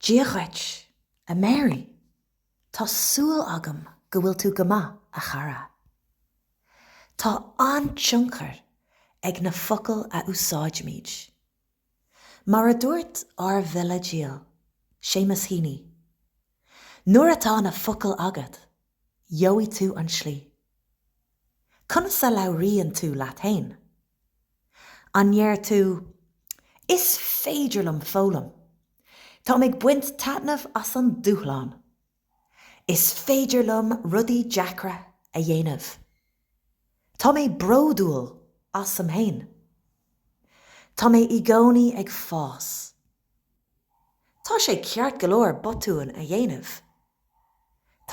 Dia dhuit, a Mary. Tá súil agam go bhfuil tú go maith, a chara. Tá an-tionchar ag na focail a úsáidimid. Mar a dúirt ár bhfile dhil, Séamus Heaney, Nuair atá na focail agat, gheobhaidh tú an tslí. Conas a labhraíonn tú leat fhéin? An ndeir tú, Is féidir liom foghlaim. Táim ag baint taitneamh as an dúshlán. Is féidir liom rudaí deacra a dhéanamh. Tá mé bródúil asam féin. Tá mé i gcónaí ag fás. Tá sé ceart go leor botúin a dhéanamh.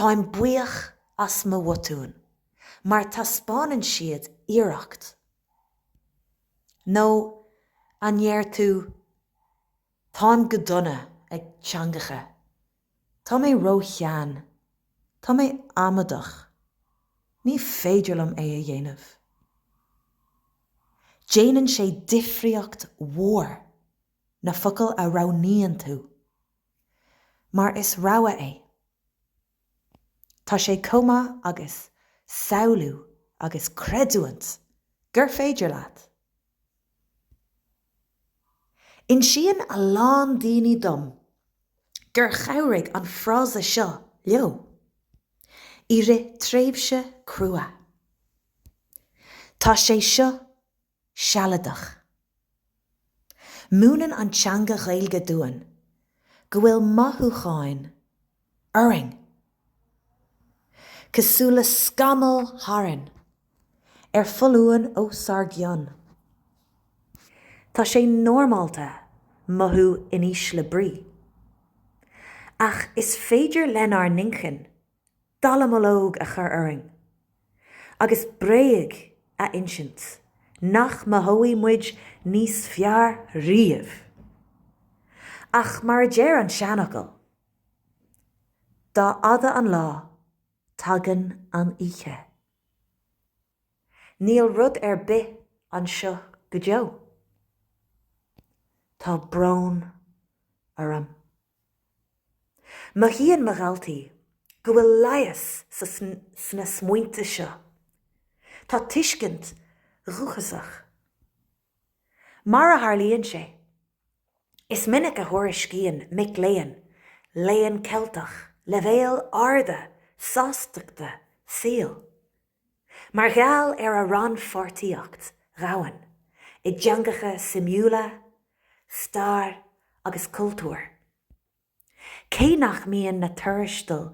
Táim buíoch as mo bhotúin mar taispeánann siad iarracht. Nó an ndeir tú Táim go dona ag teangacha, Tá mé ró-shean, Tá mé amaideach, Ní féidir liom é a dhéanamh? Déanann sé difríocht mhór na focail a roghnaíonn tú. mar is rogha é. Tá sé chomh maith agat samhlú agus creidiúint gur féidir leat. Insíonn a lán daoine dom gur chabhraigh an frása seo leo i rith tréimhse crua. Tá sé seo sealadach. Múineann an teanga Ghaeilge dúinn go bhfuil mothúcháin orainn, cosúil le scamaill tharainn ar foluain os ár gcionn. Tá sé normálta mothú in ísle brí. Ach is féidir lenár n-inchinn dallamullóg a chur orainn agus bréag a insint nach mothóidh muid níos fearr riamh. Ach mar a deir an seanfhocal, Dá fhada an lá, tagann an oíche. Níl rud ar bith anseo go deo. Tá brón orm. Mothaíonn mo dhaltaí go bhfuil leigheas sna smaointe seo. Tá tuiscint dhúchasach. Mar a tharlaíonn sé, is minic a thuairiscíonn mic léinn Léinn Cheiltigh leibhéil arda sástachta saoil. Mar gheall ar a rannpháirtíocht dhomhain i dteangacha suimiúla, stair agus cultúir, cé nach mbíonn na tuarastail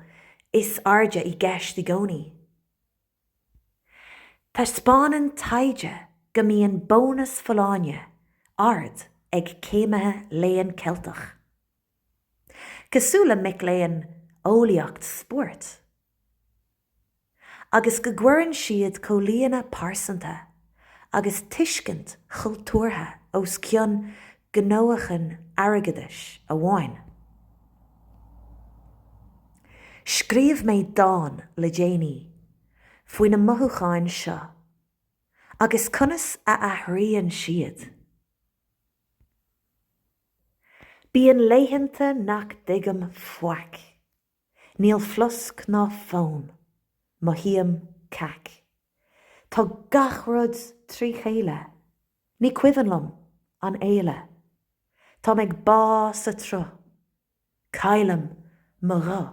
is airde i gceist i gcónaí, taispeánann taighde go mbíonn bónas folláine ard ag céimithe Léann Ceilteach, cosúil le mic léinn Eolaíocht Spóirt. agus go gcuireann siad comhlíonadh pearsanta agus tuiscint chultúrtha os cionn gnóthachan airgeadais amháin. Scríobh mé dán le déanaí faoi na mothúcháin seo agus conas a athraíonn siad. Bíonn laethanta nach dtuigim faic. Níl flosc ná fonn. Mothaím cac. Tá gach rud trí chéile. Ní cuimhin liom an fhéile. Tá mé ag bá sa tsruth. Caillim mo ghuth.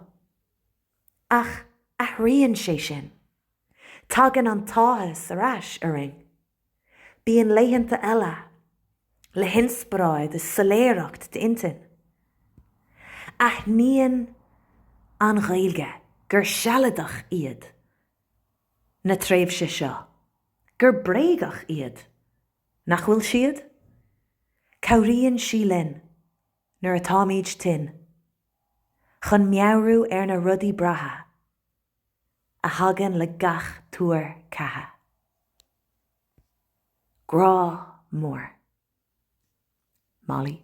Ach athraíonn sé sin. Tagann an t-áthas ar ais orainn. Bíonn laethanta eile, le hinspioráid is soiléireacht d'intinn. Aithníonn an Ghaeilge gur sealadach iad na tréimhse seo, gur bréagach iad, nach bhfuil siad? Cabhraíonn sí linn, nuair atáimid tinn, chun meabhrú ar na rudaí breátha a thagann le gach tuar ceatha. Grá mór. Molly.